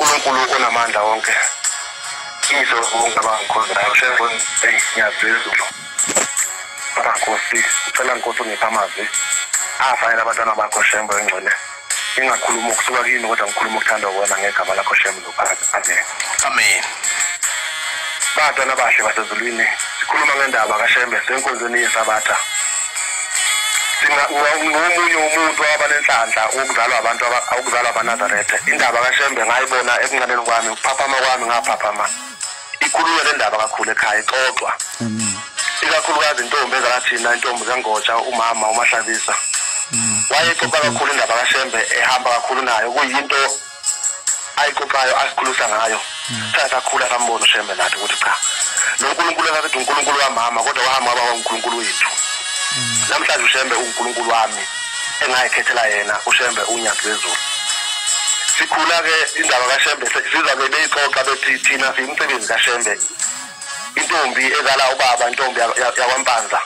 uNkulunkulu okunamandla wonke iso kungabangikhonzayo shengoni eyi ngiyaphezulu baba nkosi ucela nkosi ungipha amazwi afayela abantwana bakho shembo engcwele ingakhuluma ukusuka kini kodwa ngikhuluma ukuthanda wona ngegama lakho shembo lophakathi amen amen batwana bahle basezulwini sikhuluma ngendaba kashembe senkonzweni yesabatha ngomunye umuntu owaba nenhlanhla wokuzalwa abantu awukuzalwa abanazaretha indaba kashembe ngayibona ekuncaneni kwami ukuphaphama kwami ngaphaphama ikhulunywa le ndaba kakhulu ekhaya ixoxwa ikakhulukazi intombi ezakathina intombi zengotsha umama umahlabisa mm. wayexoxa kakhulu indaba kashembe ehamba kakhulu nayo kuyinto ayixoxayo asikhulusa ngayo hmm. sasakhula sambona ushembe nathi ukuthi cha lo nkulunkulu engasethi unkulunkulu wamama kodwa wahamba waba unkulunkulu wethu hmm. namhlanje ushembe unkulunkulu wami engayikhethela yena ushembe unyathi lezulu sikhula-ke indaba kashembe sizabe beyixoxa bethi thina siyimsebenzi kashembe intombi ezala ubaba intombi yakwampanza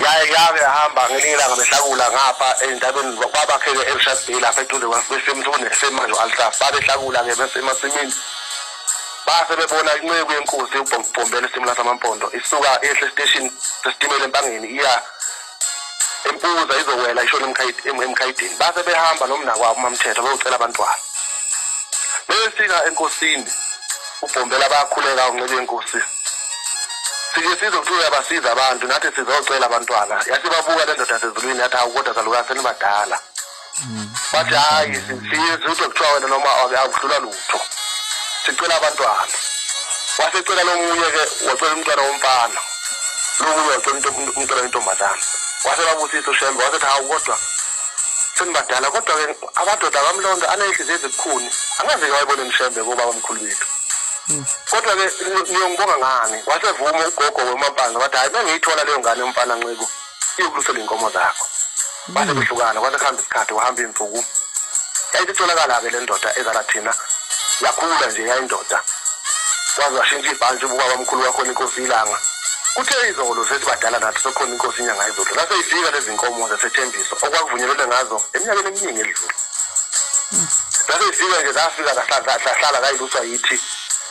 yaye yake yahamba ngelinye ilanga behlakula ngapha endaweni kwabakheke elishadile lapha eduze kwesemthune semanjo alsaf babehlakula-ke besemasimini base bebona inceku yenkosi ubhombela isitimela samampondo isuka ehle esiteshini sesitimela empangeni iya empuza izowela ishona emkhayidini base behamba nomnakwabo umamthetho beyocela abantwana befika enkosini ubhombela bayakhuleka unxibe inkosi sike size kuthiwa uyabasiza abantu nathi sizocela abantwana yasibabuka le ndoda sezulwini yathi hawu kodwa salukase nibadala bathi hayi siyizi ude kuthiwa wena noma akudlula lutho sicela abantwana wasecela lomunye ke wacela umntwana womfana lomunye wacela umntwana wentombazana wasebabusisa ushembe wasethi hawu kodwa senibadala kodwa ke amadoda kamlonda aneyihliziyo ezibukhuni angazike wayibone mshembe kobaba mkhulu wethu hmm. kodwa ke niyongibonga ngani wasevuma ugogo wemampanga wathi hayi mengiyithola leyo ngane yomfana nxibo iyokulusela iy'nkomo zakho base kuhlukana kwase kuhamba isikhathi wahamba iy'nsuku yayisitholakala-ke le ndoda ezala thina yakhula nje yayindoda kwaze washintsha ibhantshi ububaba mkhulu wakhona inkosi ilanga kuthe izolo sesibadala nathi sokhona inkosi inyanga izolo laseyifika lezi nkomo zasethembiso okwakuvunyelwene ngazo eminyakeni eminingi edlule zaseyifika nje zafika zahlala kayiluswa yithi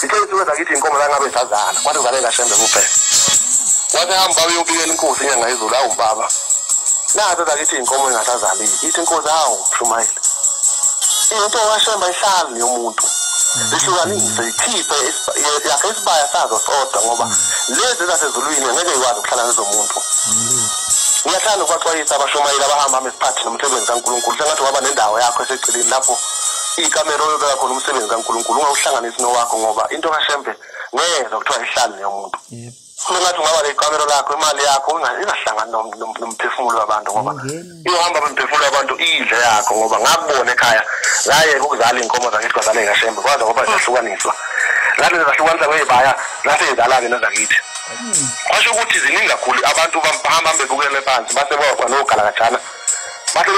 sithe isuke zakithi inkomo la ngabe sazala kwathi kuzalela shembe kuphela wathi hamba baba uyobikela inkosi inyanga yezulu awu baba nazo zakithi inkomo engasazalile ithi inkosi awu mshumayeli into washemba ihlali yomuntu zihlukanise ikhiphe yakhe isibaya sazo sodwa ngoba lezi zasezulwini ngeke ikwazi ukuhlala nezomuntu ngiyathanda ukubaxwayisa abashumayeli abahamba hamba esikhathi nomsebenzi kaNkulunkulu sengathi waba nendawo yakho eseceleni lapho ikamera oyobeka khona umsebenzi kankulunkulu ungawuhlanganisi nowakho ngoba into kashembe ngeza kuthiwa ihlali neyomuntu funa ngathi ungaba lekamero lakho imali yakho ingahlangani nomphefumulo wabantu ngoba iyohamba nomphefumulo wabantu iyidle yakho ngoba ngakubona ekhaya ngayeka ukuzala iy'nkomo zakithi kwazala eyikashembe kwaze ngoba zahlukaniswa lati zezahlukanisa kweyibaya laseyizalane nezakithi kwasho ukuthi ziningi kakhulu abantu bahamba bebukele phansi base baba nogalakajana bathe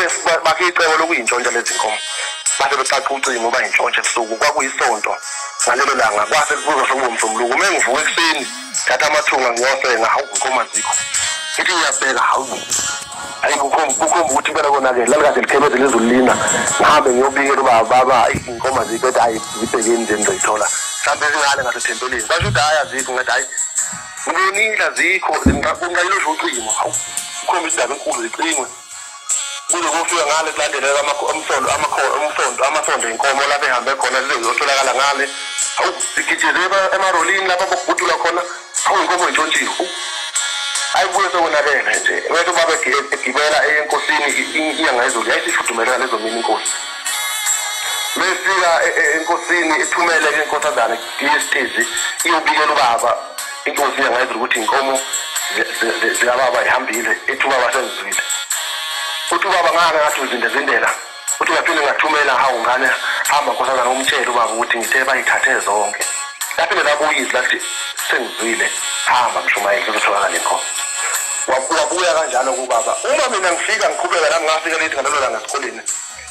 bakhe icebo lokuyintshontsha lezi nkomo bathe becaca ucingo uba yintshontsha ebusuku kwakuyisonto ngalelo langa kwase kubuza sekungomsombuluko uma engivuka ekuseni thatha amathunga ngiyosenga hawu nkomo azikho ithi ngiyabheka hawu ayi kukhomba ukuthi impela konakele lalikade likhebeze lezulu lina ngihambe ngiyobikela uba baba inkomo azikho ethi ayi zibhekeni nje ngizoyithola mhlawumbe zingale ngasethempelini basho ukuthi hhayi azikho ngathi hhayi Uningi azikho zingakunqanyiswa ucingo. Ukhomba indaba enkulu zicingwe. Kuze kufika ngale kulandelela amasondo amakhona umsondo amasondo inkomo lapho ehambe khona zize zotholakala ngale. Hawu sigijele emarolini lapho bokubhutula khona. Hawu inkomo intshontshiwe. ayibuye sekonakele nje wethu babe egibela enkosini inyanga ezulu yayisifudumele ngalezo mina inkosi mesifika e, e, enkosini ithumele ke inkosazane DSTV iyobikela ubaba inkosi yangayizwa ukuthi inkomo zikababa ihambile ethi ubaba sezizwile uthi ubaba ngake ngathi uzindezindela uthi ngaphinde ngathumela hawu ngane hamba nkosazana umtshele ubaba ukuthi ngithe bayithathe zonke laphinde lakuyizi lathi sengizwile hamba mshumayeli kuzotholakala inkomo wabuya kanjalo kubaba uma mina ngifika ngiqhubeka nami ngafika lethi ngalelo langa esikoleni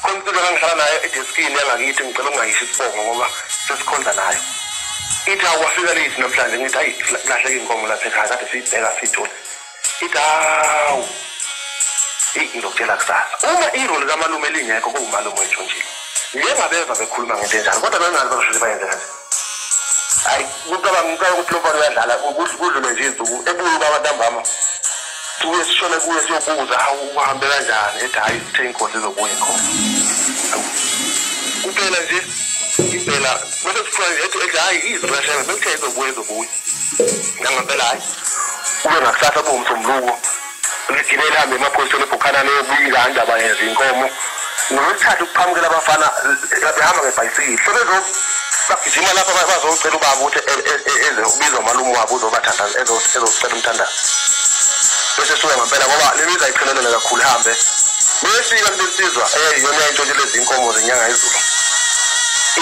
khona impilo engangihlala nayo edeskini yangakithi ngicela ukungayisho isibongo ngoba sesikhonza nayo ithi akwafika late namhlanje ngithi hayi kulahleka inkomo lapha ekhaya kade siyibheka siyithole ithi hawu eyi ngizokutshela kusasa uma iroli kamalume lingekho kuwumalume wethu nje njengabeva bekhuluma ngento enjalo kodwa bengazi bazoshuthi bayenze kanje hayi kucabanga ngicabanga ukuthi lo mfana uyadlala kudlule nje izinsuku ebuye ubaba ntambama sibuye sishone kuye siyobuza hawu uhambe kanjani ethi hhayi sithe inkosi izobuye khona kuphela nje impela bese kuthiwa nje ethi ethi hhayi izirashela sekuthe izobuye izobuye nangempela hhayi kube ngakusasa bomsombuluko ngigibele hambe emaphoyiseni ebhukhana leyobika andaba yenza inkomo ngolwesithathu kuqhamukela abafana behamba ngebhayisikile sebezobagijima lapha bazocela ubaba ukuthi e, e, e, eze ubiza umalume wabo uzobathandaza ezocela umthandazo bese suke ngempela ngoba le mizi ayichelelele kakhulu ihambe beyefika kulesizwa eyiyona yayintshontshe lezi inkomo zenyanga izulu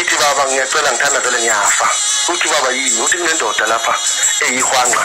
ithi baba ngiyacela ngithandazele ngiyafa uthi baba yini uthi kunendoda lapha eyihwanqa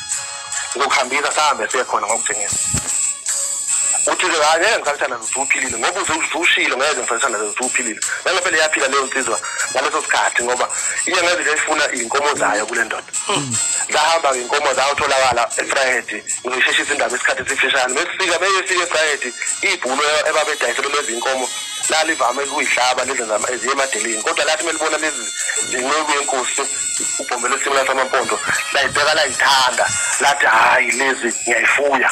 ngokuhambisa sahambe siye khona ngokuthengisa uthi ke hayi ngeke ngisakutshana ngizuphilile ngoba uzushilo ngeke ngisakutshana ngizuphilile nangempela iyaphila leyo nsizwa ngaleso sikhathi ngoba iye ngeke nje ifuna izinkomo zayo kule ndoda zahamba hmm. ngenkomo zayo tholakala efrayedi ngisheshisa indaba isikhathi sifishane besifika beyefika efrayedi ibhulo ebabedayisele lezi inkomo lalivame ukuyihlaba lezi eziye emadeleni kodwa lathi melibona lezi ngenceku yenkosi ubhombele esimela samampondo layibheka layithanda lathi hhayi lezi ngiyayifuya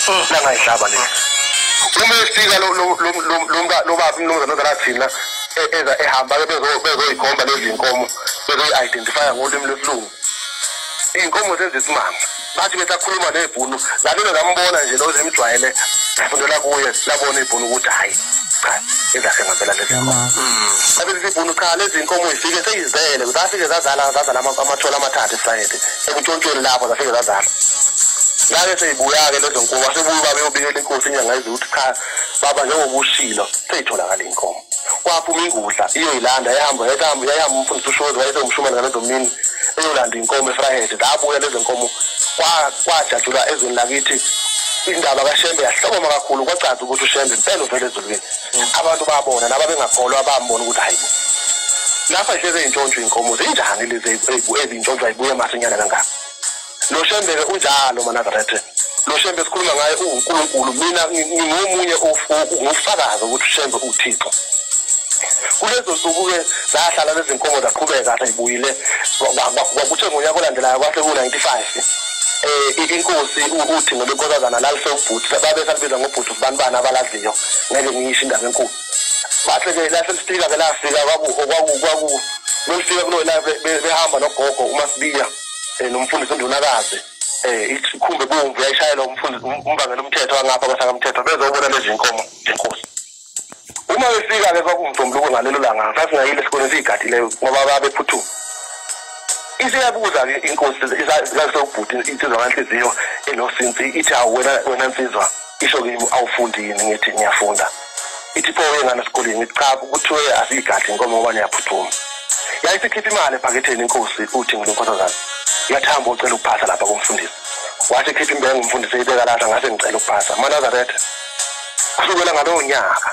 hmm. langayihlaba lezi uma efika lo baba umnumzane ozala thina e-, eza ehamba-ke bezoyikhomba lezi nkomo bezoyi-identifya ngolimi lwesilungu iy'nkomo zenza isimanga bathi besakhuluma nebhunu nalona ngambona nje loze imjwayele fundela kuye labona ibhunu ukuthi hhayi cha ezakhe ngampela lezinkomo abelisa ibhunu cha lezi nkomo zifike seyizele zafike zazala zazala amathole amathathu efrayede ekuntshontshweni lapho zafike zazala ngake seyibuya-ke lezo nkomo asebuye babeyobikela inkosi inyanga ezi ukuthi cha baba njengoba ushilo seyitholakala iy'nkomo kwaphuma ingudla iyoyilanda yahamba yayihamba yayihamba umfundisi ushozi wayesewumshumane ngalezo mini eyolanda inkomo efrahede zabuya lezo nkomo kwajatshulwa ezweni lakithi indaba kashembe yahlokoma kakhulu kwacaca ukuthi ushembe impela uvele ezulwini mm. abantu babona naba bengakholwa bambona ukuthi hayi lapha hleze intshontsho inkomo zinjani lezi ezintshontsho ayibuye masinyana kangaka lo shembeke unjalo manazarethe lo shembe sikhuluma ngaye uwunkulunkulu mina ngingomunye ngufakazi ukuthi ushembe uthixo kulezo nsuku-ke zahlala lezi nkomo zaqhubeka seyibuyile kwakuthe ngonyaka olandelayo kwase ku-ninety five eh inkosi ukuthi ngoba inkosazana lalise ubhuti babe salibiza ngobhuti ubani bani abalaziyo ngeke ngiyisho indaba enkulu bathe ke lase lifika ke lafika kwaku kwaku kwaku lolifika kulo la behamba nogogo uma sibiya eh, nomfundisi undunakazi eh ikhumbe bomvu yayishayela umfundisi um, umbangela umthetho angapha kwasakamthetho bezobona lezi nkomo ngenkosi uma befika ke kwakumsombuluko ngalelo langa sasingayile sikole siyigadile ngoba babephuthuma isiyabuza ke inkosi zasobhuti insizwa kanhliziyo enosinsi ithi awu wena wena nsizwa isho kimi awufundi yini ngithi ngiyafunda ithi pho wengane esikoleni ngithi cha kuthiwe asiyigadli inkomo ngoba niyaphuthuma yayisikhipha imali ebhaketheni inkosi uthi ngilonkosazana yathamba ocela ukuphasa lapha kumfundisi wathi khipha imbewu ngumfundisi eyibeka lapha ngase ngicela ukuphasa manazaretha kusukela ngalowo nyaka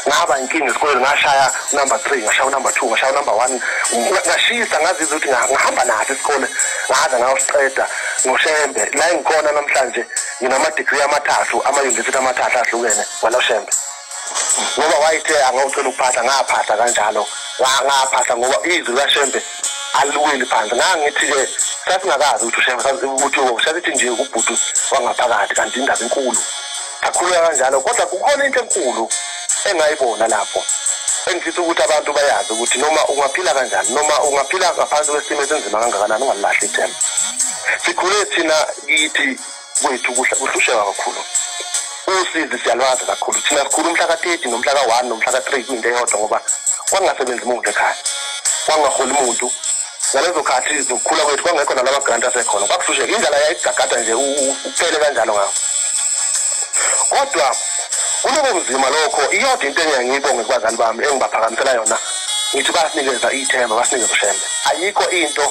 ngaba inkinga esikoleni ngashaya number three ngashaya unumber two ngashaya unumber one ngashisa ngazizwa ukuthi ngahamba naso isikole ngaze ngayosiqeda ngoshembe la engikhona namhlanje nginamadigri amathathu amayunivesithi amathathu ahlukene waloshembe ngoba wayithe angawucela ukuphahla ngaphahla kanjalo ngaphahla ngoba izwi lashembe aliweli phansi ngangithi-ke sasingakazi ukuthi ushembe ukuthi ushasithi nje ubhuti wangaphakathi kanti indaba enkulu akhuluka kanjalo kodwa kukhona into enkulu engayibona lapho engifisa ukuthi abantu bayazi ukuthi noma ungaphila kanjani noma ungaphila ngaphansi kwesimo esinzima kangakanani ungalilahli ithemba sikhule thina kithi kwethu kuhlusheka kakhulu usizi siyalwazi kakhulu thina sikhulu umhla ka-30 nomhla ka-1 nomhla ka-3 kwinto eyodwa ngoba kwangasebenzi muntu ekhaya kwangaholi muntu ngalezo khathi zokukhula kwethu kwangekho nalama grant asekhona kwakuhlusheka indlala yayigagada nje uphele kanjalo ngawo kodwa kulobo buzima lokho iyodwa into engiyangiyibonge kubazali bami engibaphakamisela yona ngithi basinikeza ithemba basinikeza ushembe ayikho into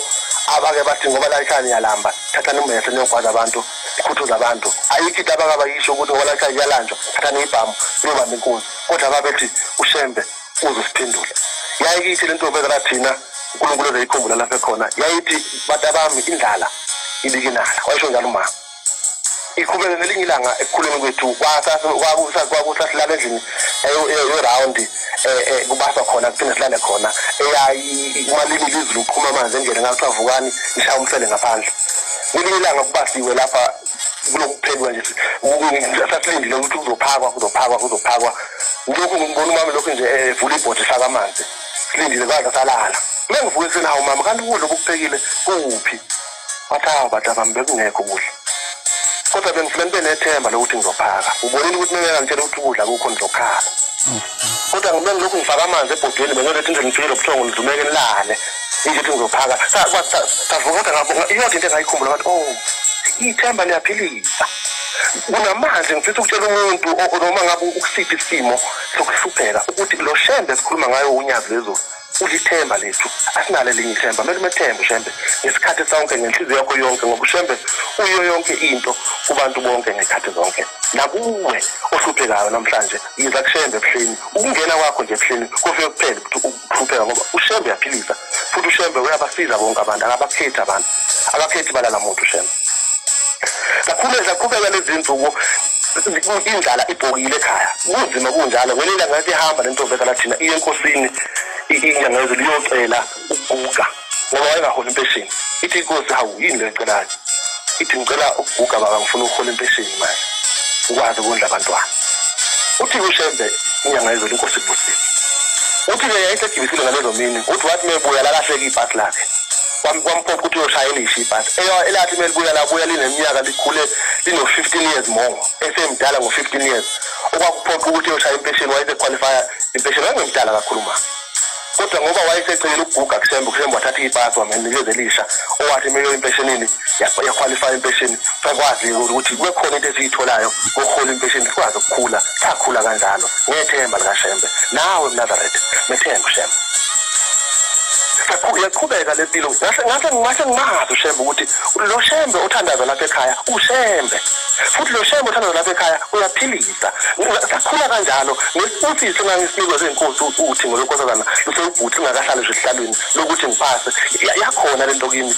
abake bathi ngoba layikhaya niyalamba thathani umbese niyogwaza abantu ikhuthuza abantu ayikho into abake abayisho ukuthi ngoba layikhaya iyalanjwa thathani ibhamu niyobamba inkunzi kodwa babethi ushembe uzosiphendula yayikithi lentombi ezala thina uNkulunkulu ezeyikhumbula lapha khona yayithi batabami indlala ibikinala wayisho njalo umama ikhubeke ngelinye ilanga ekukhuleni kwethu kwakusasilala endlini eyorawundi eh, eh, kubaswa khona kuphinde silale khona eyayi umalimi lizulu uqhuma amanzi endlele ngakuthiwa vukani nishaya umhlele ngaphandle ngelinye ilanga kubasiwe lapha kulokuphendula nje sasilindile ukuthi kuzophakwa kuzophakwa kuzophakwa lokhu ngimbona umama lokhu nje eh, evula ibhodle faka amanzi silindile kwaze salala mengivuke ekuseni hawu mama kanti ukudla okuphekile kuphi wathi hawu bata bami bekungekho ukudla kodwa bengifuna nibe nethemba lokuthi ngizophaka ubonile ukuthi mengeke ngitshela ukuthi ukudla kukho ngizokhala kodwa ngibengilokhu ngifaka amanzi ebhodweni bengiyoletha indlela ngifike lobuthongo ngizumeke nilale ukuthi ngizophaka savukatha ngabo iyonke into engayikhumbula ngathi o oh, ithemba liyaphilisa kunamanje ngifisa ukutshela umuntu noma ngabe ukusiphi isimo sokuhlupheka ukuthi lo shembe esikhuluma ngayo unyazi lezulu ulithemba lethu asinalo elinye ithemba kumele umethembe ushembe ngesikhathi sonke ngenhliziyo yakho yonke ngoba ushembe uyo yonke into kubantu bonke ngekhathi zonke nakuwe ohluphekayo namhlanje yiza kushembe ebuhleni ukungena kwakho nje ebuhleni kufike kuphele ukuthi ukuhlupheka ngoba ushembe uyaphilisa futhi ushembe uyabasiza bonke abantu akabakhethi abantu akakhethi balala muntu ushembe kakhulu ezaqhubeka lezi nsuku indlala ibhokile ekhaya kunzima kunjalo ngelinda ngathi ihamba le ntombezana thina iye enkosini inyanga yezulu iyocela ukuguga ngoba wayengaholi impesheni ithi inkosi hawu yini le ecelayo ithi ngicela ukuguga baba ngifuna ukuhola impesheni manje ukwazi ukondla abantwana uthi ushembe inyanga yezolo inkosi ibusile uthi ke yayisegibisile ngalezo mini uthi wathi mebuya lalahleka ibhasi lakhe kwamphoqa ukuthi uyoshayela isho ibhasi elathi melibuya labuya lineminyaka likhule lino-fifteen years more esemdala ngo-fifteen years okwakuphoqa ukuthi uyoshaya impesheni wayesequalifya impesheni wayengimdala kakhulu mama kodwa ngoba wayesecelele ukuguga kusembe kusembe wathatha ipasi wamnikeza elisha owathi uma impeshenini yakhwalifaya impesheni sakwazi ukuthi kube khona into esiyitholayo kohola impesheni sikwazi ukukhula sakhula kanjalo ngethemba likashembe nawe mnazaretha methemba ushembe yaqhubeka le mpilo ngase ngase ngase ngimazi ushembe ukuthi lo shembe othandaza lapha ekhaya ushembe futhi lo shembe othandaza lapha ekhaya uyaphilisa sakhula kanjalo Ngesikhathi singangisinikwa senkosi uthi ngolokosazana lusewubhuthi ngakahlale nje esihlalweni lokuthi ngiphase yakhona lento kimi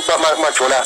baba majola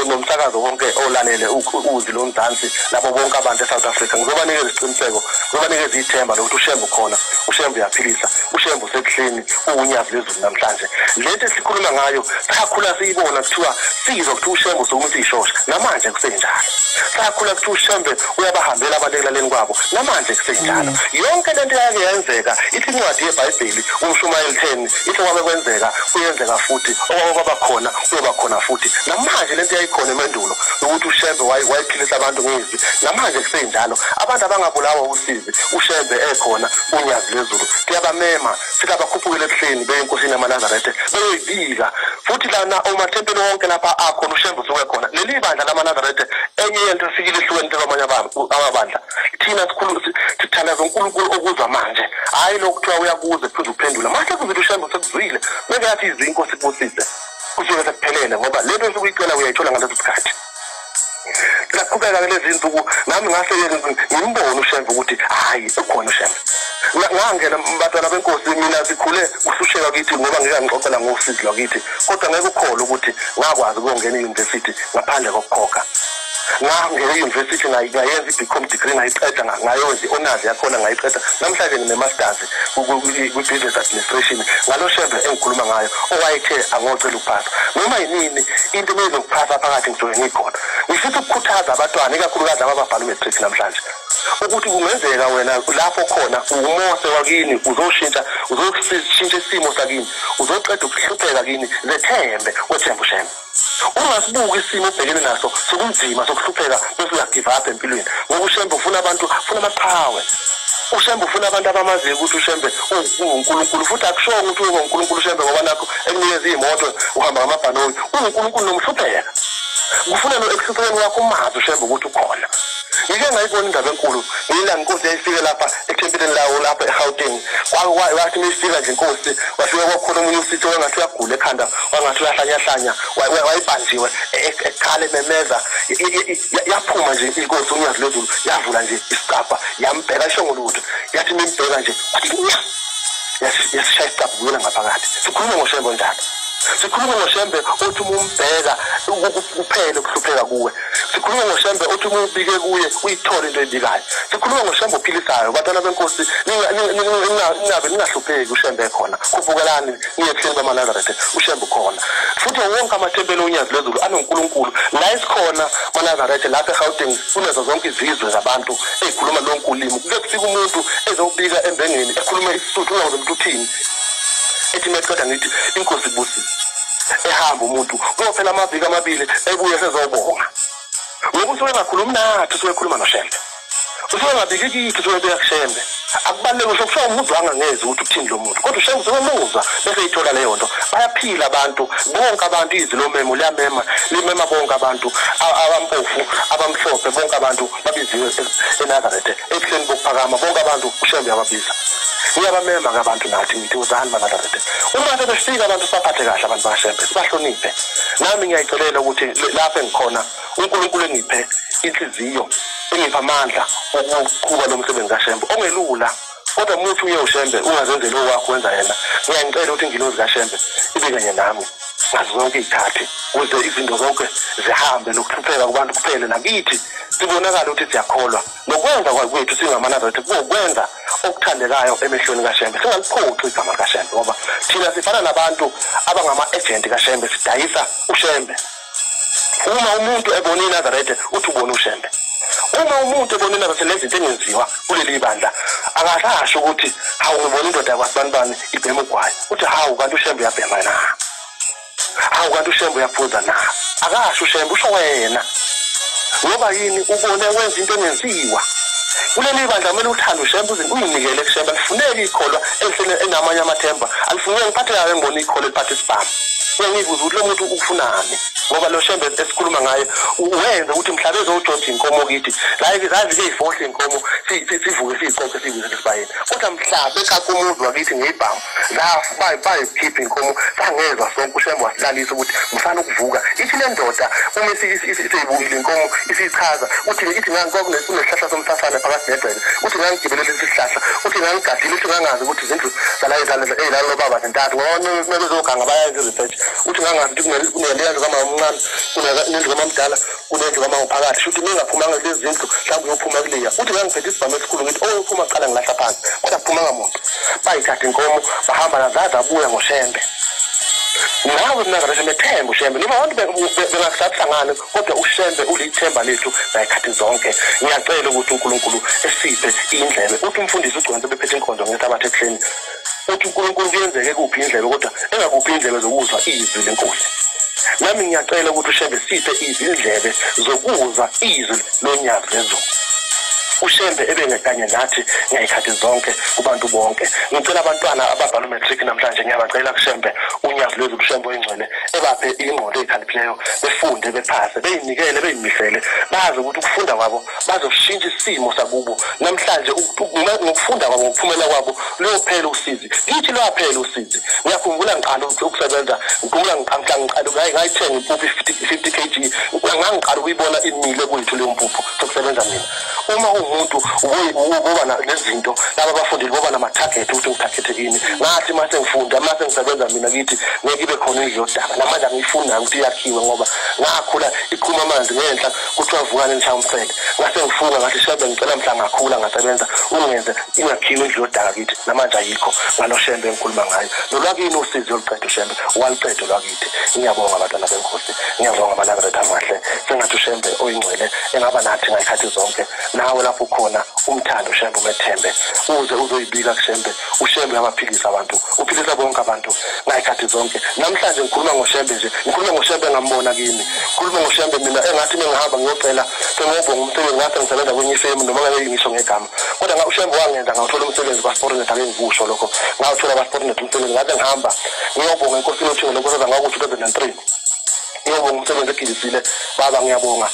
nomsakazo wonke olalele uzi lomzansi labo bonke abantu eSouth Africa ngizobanikeza isiqiniseko ngizobanikeza ithemba lokuthi ushembe ukhona ushembe uyaphilisa ushembe usebuhleni uwunyazi lezulu namhlanje lento esikhuluma ngayo sakhula siyibona kuthiwa sizwa kuthiwa ushembe usukuma uthi ishosha namanje kusenjalo sakhula kuthiwa ushembe uyabahambela abantu ekulaleni kwabo namanje kusenjalo mm. yonke lento yake yenzeka ithi incwadi yebhayibheli umshumayeli 10 ithi kwabe kwenzeka kuyenzeka futhi okwabo kwaba khona kuyoba khona futhi namanje lento yayikhona emandulo ukuthi ushembe wayiphilisa abantu ngezwi namanje kusenjalo abantu abangabulawa usizi ushembe ekhona unyazi lezulu kuyabamema sikabakhuphuke ebuhleni beye enkosini yamanazaretha beyoyibiza futhi lana omathempeli wonke lapha akhona ushembe usuke khona leli bandla lamanazaretha enye yento efikile ehlukene kwamanye amabandla thina sikhulu sithandaza unkulunkulu okuza manje hhayi lokhu kuthiwa uyakuze phuze uphendula mase kuzile ushembe sekuzwile beke yathi izinko sibusise kusuke sekuphelele ngoba lento esuke uyicela uyayithola ngaleso sikhathi ngaqhubeka kulezi nsuku nami ngase ngimbone ushembe ukuthi hhayi ukhona ushembe ngangena batwana benkosi mina sikhule kususheka kithi ngoba ngeke ngixoxela ngosizi lwakithi kodwa ngeke ukholwe ukuthi ngakwazi ukuyongena eyunivesithi ngaphandle kokukhokha ngangena eyunivesithi ngayenza i-bcom degree ngayiqeda ngayenza i-honors yakhona ngayiqeda namhlanje ngine-masters kwi-previous administration ngalo shembe engikhuluma ngayo owayethe angocela ukuphatha noma yinini into ebeyizokuphatha phakathi ngisuke ngikhona ngifisa ukukhuthaza abantwana ikakhulukazi laba ababhala umatric namhlanje ukuthi kungenzeka wena lapho khona umose wakini uzoshintsha uzoshintsha isimo sakini uzoqeda ukuhlupheka kini zethembe wethembe ushembe ungasibuki isimo obhekene naso sokunzima sokuhlupheka besingagive up empilweni ngoba ushembe ufuna abantu ufuna amaqhawe ushembe ufuna abantu abamaziyo ukuthi ushembe ungunkulunkulu futhi akushongo ukuthi uyoba unkulunkulu ushembe ngoba nakho ekunikeza iy'moto uhamba ngamabhanoyi ungunkulunkulu nomhlupheka kufuna no ekuhluphekeni wakho umazi ushembe ukuthi ukhona ngike ngayibona indaba enkulu ngiyilanga inkosi yayifike lapha ethempeleni lawo lapha egauteng wathi uma ifika nje inkosi wafika kwakhona omunye usitho wangathi uyagula ekhanda wangathi uyahlanyahlanya wayibanjiwe e, e, ekhala ememeza yaphuma nje inkosi unyazi lwezulu yavula nje isicabha yambheka isho ngolutho yathi uma imbheka nje yasishaya isicabha kuyona ngaphakathi sikhulume ngoshembo njalo sikhulume ngoshembe othi uma umbheka kuphele ukuhlupheka kuwe sikhuluma ngoshembe uthi uma ubike kuye uyithole into eyibikayo sikhuluma ngoshembe ophilisayo bantwana benkosi ningabe ningahlupheki ushembe khona khubukelani niye ebuhleni bamanazarethe ushembe ukhona futhi wonke amathempeli onyazi lwezulu anonkulunkulu la esikhona manazarethe lapha egauteng kunezo zonke izizwe zabantu ezikhuluma lonke ulimi kuke kufika umuntu ezobika embengeni ekhuluma isisuthu ungakuze umuntu uthini ethi meqeda ngithi inkosi ibusile ehamba umuntu kuyophela amaviki amabili ebuye sezobonga ngoba usuke engakhulumi nathi usuke ekhuluma noshembe usuke engabiki kithi usuke ebuya kushembe akubaluleke ngisho kuthiwa umuntu angangezi ukuthi uthini lo muntu kodwa ushembe usuke emuzwa bese yithola leyo nto bayaphila abantu bonke abantu izwi lomemo liyamema limema bonke abantu abampofu abamhlophe bonke abantu babiziwe enazarethe ekuseni bokuphakama bonke abantu ushembe yababiza uyabamema ke abantu nathi ngithi uzani banazarethe uma sebefika abantu sibaphathe kahle abantu bashembe sibahloniphe nami ngiyayicelela ukuthi lapho engikhona unkulunkulu engiphe inhliziyo engipha amandla okuqhuba lo msebenzi kashembe ongelula kodwa muthi uye ushembe ungazenzeli owakho wenza yena ngiyangicela ukuthi ingilozi kashembe ibe kanye nami ngazo zonke iy'khathi kuze izinto zonke zihambe nokuhlupheka kubantu kuphele nakithi sibonakala ukuthi siyakholwa nokwenza kwethu singamanazaretha kuwukwenza okuthandekayo emehlweni kashembe singaliphoxi igama likashembe ngoba thina sifana nabantu abangama-ejenti kashembe sidayisa ushembe uma umuntu ebona inazaretha uthi ubona ushembe uma umuntu ebona inazaretha nezinto engenziwa kuleli bandla akasasho ukuthi hawu ngibona indoda yakwabanibani ibhema ugwayi uthi hawu kanti ushembe uyabhema na hawu kanti ushembe uyaphuza na akasho ushembe usho wena ngoba yini ubone wenza into engenziwa kuleli bandla kumele uthande ushembe uyinikele kushembe alifuneki ikholwa elihlele enamanye amathemba alifuneki ngiphathe kayo engibona ikholwa eliphatha isibhamu bengibuza ukuthi lo muntu ufunani ngoba lo shembe esikhuluma ngaye wenze ukuthi mhlawumbe ezojojha inkomo kithi like zazi ke ifohle inkomo sivuke siyiqoqe siyibuze lesibayeni kodwa mhlawumbe kakumuzwa kithi ngeyibhamu bayikhipha inkomo sangezwa sonke ushembe wasilalisa ukuthi musana ukuvuka ithi le ndoda uma seyibukile inkomo isiyichaza uthi ithi ngangikwakunesihlahla somsasane phakathi nedwele uthi ngangigibelele isihlahla uthi ngangigadile uthi ngangazi ukuthi izindlu zala ezilala lobaba zintathu ngoba kumele uzoganga bayayenza i-research uthi ngangathi kuneleya ndlu kamama omncane kunendlu kamamdala kunendlu kamama phakathi shuthi ningaphumanga kulezi zindlu mhlawumbe uyophuma kuleya uthi ngangiphethe isibhamu esikhulu ngithi oyophuma oh, kuqala ngilahla phansi kodwa kuphumanga muntu bayithatha inkomo bahamba nazazi abuya ngoshembe nawe mna ngasho methemba ushembe noma abantu bengakusathi hlangane kodwa ushembe ulithemba lethu ngayikhathi zonke ngiyacela ukuthi unkulunkulu esiphe indlebe uthi umfundisi ugconse bephethe inkonzo ngesabatha ekuseni uthi unkulunkulu kuyenzeke kuphi indlebe kodwa engakuphi indlebe zokuzwa izwi lenkosi nami ngiyacela ukuthi ushembe siphe izindlebe zokuzwa izwi lonyazi lezulu ushembe ebenge kanye nathi ngeyikhathi zonke kubantu bonke ngicela abantwana ababhala umatric namhlanje ngiyabacela kushembe unyazi lwezulu shembe oyingcwele ebaphe ingqondo eyikhaliphileyo befunde bephase beyinikele beyimisele bazi ukuthi ukufunda kwabo bazoshintsha isimo sakubo namhlanje ngokufunda kwabo ngokuphumela kwabo luyophela usizi ngithi lwaphela usizi ngiyakhumbula ngiqala ukusebenza ngikhumbula ngiqala ngiqala ngayithenga impuphu i-fifty kg ngangiqala ukuyibona imile kwethu leyo mpuphu sokusebenza mina uma umuntu uboba nezinto laba bafundile boba nama-target ukuthi ngithagethe kini ngathi uma sengifunda uma sengisebenza mina kithi ngeke ibe khona indlu yodaka namanje angiyifunayo ukuthi yakhiwe ngoba ngakhula iqhuma amanzi ngenhla kuthiwa vukane nishamsele ngase ngifunga ngathi shebe ngicela mhla ngakhula ngasebenza ungenze ingakhiwe indlu yodaka kithi namanje ayikho ngalo shembe engikhuluma ngayo nolwakini usizi oluqeda ushembe waluqeda olwakini ngiyabonga abantwana benkosi ngiyabonga amanazareth amahle sengathi ushembe oyingcwele engaba nathi ngayikhathi zonke nawe lapho khona umthando ushembe umethembe uze uzoyibika kushembe ushembe abaphilisa abantu uphilisa bonke abantu ngayikhathi zonke namhlanje ngikhuluma ngoshembe nje ngikhuluma ngoshembe engambona kimi ngikhuluma ngoshembe mina engathi mengihamba ngiyocela sengiyobonga umsebenzi ngathi ngisebenza kwenye ifemu noma ngabe ngisho ngegama kodwa nga ushembe wangenza ngawuthola umsebenzi kwaSportnet ake ngikusho lokho ngawuthola kwaSportnet umsebenzi ngaze ngihamba ngiyobonga inkosi lothingo lokho seza ngaku 2003 ngiyobonga umsebenzi egilisile baba ngiyabonga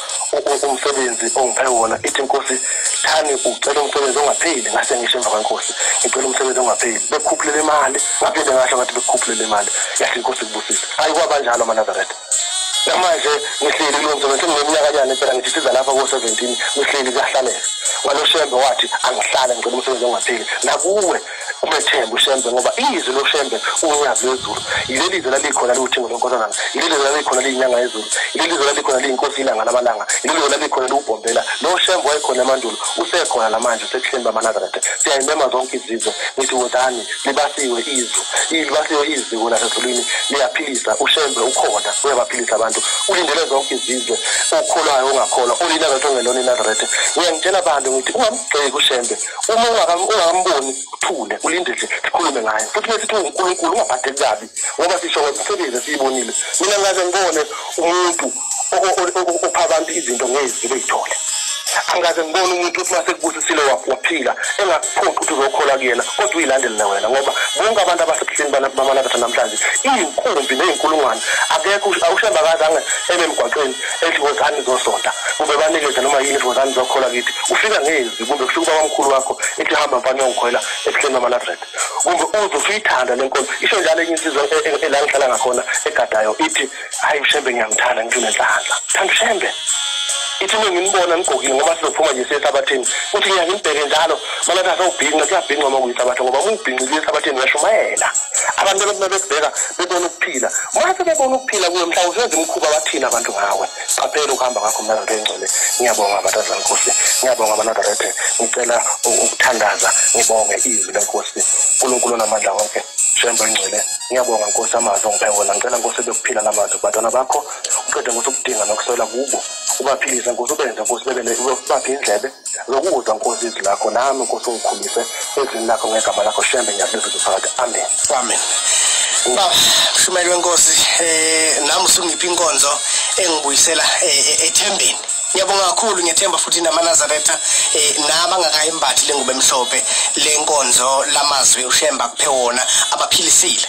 umsebenzi ongiphe wona ithi inkosi thani ucela umsebenzi ongapheli ngase ngisho emva kwenkosi ngicela umsebenzi ongapheli bekhuphulele imali ngaphinde ngasho ngathi bekhuphulele imali yahle inkosi kubusisa ayi kwabanjalo amanazaretha namanje ngihleli kulo msebenzi sengineminyakanyana phela ngithi siza lapha ko-seventeen ngihleli kuyahlalela waloshembe wathi angihlale ngicela umsebenzi ongapheli nakuwe umethembe ushembe ngoba izwi loshembe unyazi lwezulu yileli zwi lalikhona liwuthingo lwenkosanana yileli zwi lalikhona liyinyanga yezulu yileli zwi lalikhona liyinkosi ilanga lamalanga yileli zwi lalikhona liwubhombela loshembe wayekhona emandulo usekhona namanje sekuhleni bamanazaretha siyayimema zonke izizwe ngithi wozani libasiwe izwe libasiwe iziko lasezulwini liyaphilisa ushembe ukhona uyabaphilisa abantu ulindele zonke izizwe okholwayo ongakholwa ulinazareth ongelona inazareth ngiyangitshela abantu ngithi ungamgxeki ushembe uma ungakamboni uthule ulinde nje sikhulume ngaye futhi mesithi ungunkulunkulu ungabhadeli kabi ngoba sisho ngemisebenzi esiyibonile mina ngaze ngibone umuntu opha abantu izinto ngezwi beyithole angikaze ngibone umuntu ukuthi uma sekubusisile waphila engakuphoqi ukuthi uzokhola kuyena kodwa uyilandelela wena ngoba bonke abantu abasebuhleni bamanakatha namhlanje iyinkumbi neyinkulungwane akekho awushemba kazange ebe emgwaqeni ethi wozani zosonta kumbe banikeze noma yini ethi wozani zokhola kithi ufika ngezi kumbe kufika ubabamkhulu wakho ethi hamba mfana yongikhwela ebuhleni bamanadred kumbe uze usuyithanda le nkolo isho njalo enye insizwa e- e- ela ngihlala ngakhona egadayo ithi hayi ushembe ngiyamthanda ngithi unenhlanhla thanda ushembe ithi uma nginibona ngigqokile ngoba sizophuma nje siye ehlabathini uthi ngiya ngimbheke njalo mana kahle ubhinqa kuyabhinqa uma kuyihlabatha ngoba uma ubhinqile ehlabathini uyashumayela abantu abantu mabekubheka bebona ukuphila uma sebebona ukuphila kuwe mhlawumbe usenza imikhuba bathini abantu ngawe siqaphele ukuhamba kwakho mnazarete engcwele ngiyabonga abathaza nkosi ngiyabonga abanazarete ngicela ukuthandaza ngibonge izwi lenkosi unkulunkulu onamandla wonke shembo engcwele ngiyabonga nkosi amazwi ongiphe wona ngicela nkosi ebekuphila namazwi kubantwana bakho uqede ngokuthi ukudinga nokuswela kubo ubaphilise nkosi ubenze nkosi bebele ubaphi indlebe zokudwa nkosi izwi lakho nami nkosi ungikhulise ezwini lakho ngegama lakho shembe ngiyakubiza uphakathi amen amen baba mshumayeli wenkosi um nami usungiphi inkonzo engibuyisela eh, eh, ethembeni ngiyabonga kakhulu ngethemba futhi namanazaretha eh nabangakayimbathi lengubo emhlophe lenkonzo lamazwi ushemba kuphe wona abaphilisile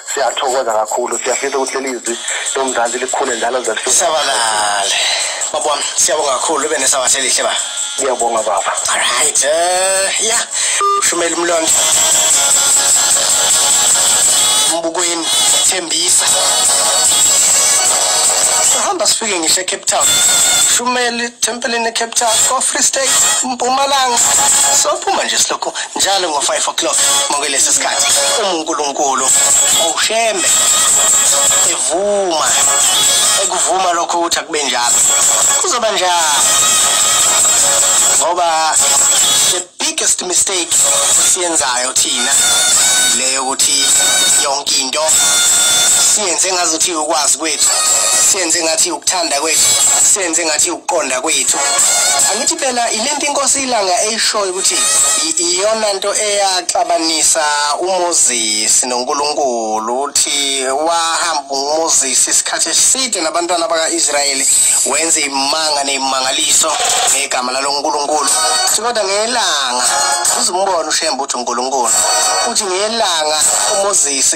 siyathokoza kakhulu siyafisa ukuthi leli izwi lomzansi likhule njalo zalisabalale baba wami siyabonga kakhulu ube nesabatha elihle ba ngiyabonga baba alright uh, eh, ya shumela umlondo mbukweni thembisa sihamba sifike ngisho ecape town shumela ithempelini ecape town ko-free state mpumalanga sophuma nje silokhu njalo ngo-5 o'clock ngokwelesi sikhathi uma unkulunkulu ushembe evuma ekuvuma lokho ukuthi akube njalo kuzoba njalo ngoba the biggest mistake siyenzayo thina leyo ukuthi yonke into siyenze ngazuthi ukwazi kwethu siyenze ngathi ukuthanda kwethu siyenze ngathi ukuqonda kwethu angithi phela ilento inkosi ilanga eyishoyo ukuthi iyona nto eyaxabanisa uMoses noNkulunkulu uthi wahamba uMoses isikhathi eside nabantwana bakaIsrayeli wenza imanga nezimangaliso ngegama laloNkulunkulu kodwa ngelanga uzimbona ushembe uthi uNkulunkulu uthi ngelanga uMoses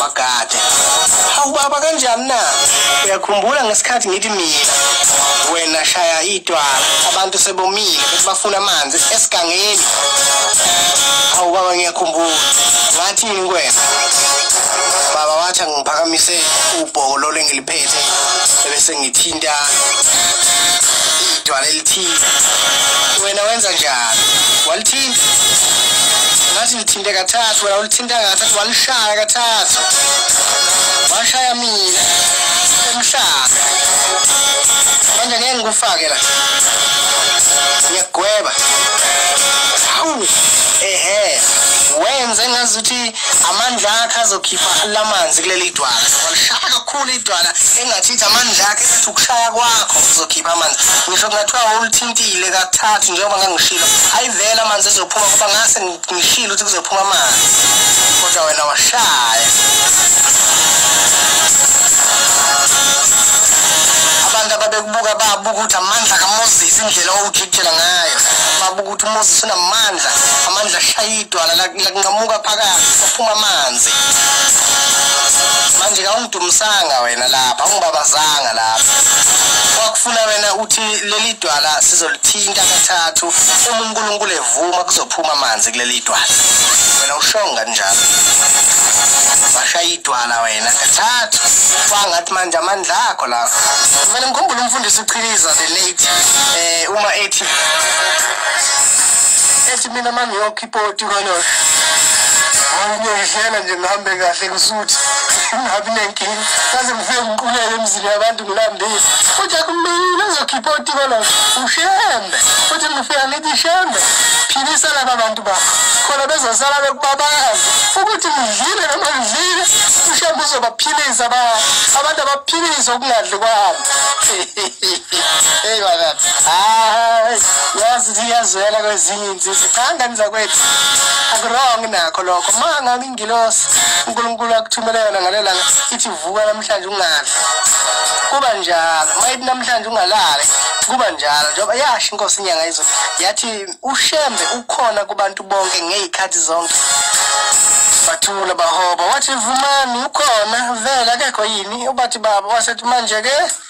bagade hawu baba kanjani na uyakhumbula ngesikhathi ngithi mina wena shaya idwala abantu sebomile bethi bafuna amanzi esigangeni hawu baba ngiyakhumbula ngathini kwena baba wathi angiphakamise ubhoko lolengili ngiphethe ebese ngithinta idwala elithize wena wenza njani walithinta ngathi lithinte kathathu wena ulithinta kathathu walishaya kathathu washaya mina emhlanga manje ngeke ngikufake la ngiyagweba hawu ehe wenze ngazuthi amandla akhe azokhipha lamanzi kuleli dwala walishaya kakhulu idwala engathi ithi amandla akhe ethi ukushaya kwakho uzokhipha amanzi ngisho kungathiwa wawulithintile kathathu njengoba ngangishilo ayivele amanzi ezophuma kuba ngase ngishilo ukuthi kuzophuma amanzi kodwa wena washaya abantu ababekubuka babuka ukuthi amandla kamoses indlela owujikijela ngayo babuka ukuthi umoses unamandla amandla ashayile idwala lakunqamuka phakathi saphuma amanzi manje kawungidumisanga wena lapha ungibabazanga lapha kwakufuna wena uthi leli dwala sizolithinta kathathu uma unkulunkulu evuma kuzophuma amanzi kuleli dwala wena ushonga njalo washaya idwala wena kathathu kwangathi manje amandla akho lapho kumele ngikhumbule umfundisi uchiliza the late um uma ethi mina uma ngiyokhipha ipoti kaloyo ngiyoyidlela nje ngihambe kahle ngisuthi ngabi nenkinga kaze ngifike ngiqulele emzini yabantu ngilambile futhi akumile ngizokhipha ipoti kaloyo ushembe futhi ngifika ngithi shembe philisa laba bantu bakho khona bezosala bekubabazi ukuthi ngidlile noma ngidlile ushembe uzobaphilisa abantu abaphiliswa ukungadli kwabo eyona hayi yazi ukuthi iyazwela kwezinye insizwa cha ngani zakwethu akurong nakho lokho ma ngabe ingilosi unkulunkulu akuthumele yona ngale langa ithi vuka namhlanje ungadli kuba njalo ma ithi namhlanje ungalali kuba njalo njengoba yasho inkosi inyanga izulu yathi ushembe ukhona kubantu bonke ngey'khathi zonke bathula bahoba wathi vumani ukhona vele akekho yini ubathi baba wasethi manje-ke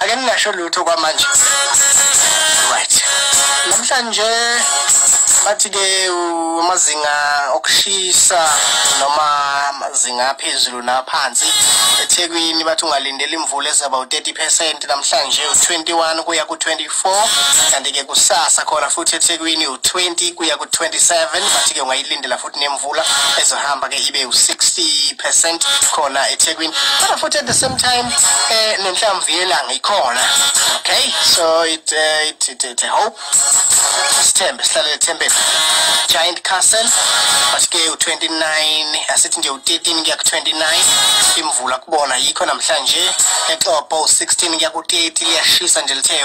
ake ningasho lutho kwamanje right namhlanje bathi-ke amazinga okushisa noma amazinga aphezulu naphansi ethekwini bathi ungalindela imvula ezaba u-30 percent namhlanje u-21 kuya ku-24 kanti-ke kusasa khona futhi ethekwini u-20 kuya ku-27 bathi-ke ungayilindela nemvula ezohamba ke ibe u-60% khona eThekwini kodwa futhi at the same time eh nenhlamvu yelanga ikhona okay so it uh, it, it, it hope sithembe sihlale ethembeni giant castle but ke u-29 asithi nje u-13 kuya ku-29 imvula kubona yikho namhlanje exopo u-16 kuya ku-30 liyashisa nje lithe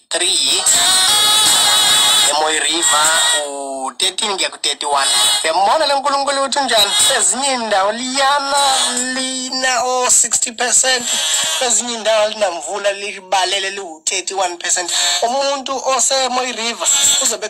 three hits emoy river u-13 kuya ku-31 yambona le nkulunkulu ukuthi unjani kwezinye indawo liyana lina o-60 percent kwezinye indawo linamvula libalele liwu-31 percent umuntu osemoy river uzobe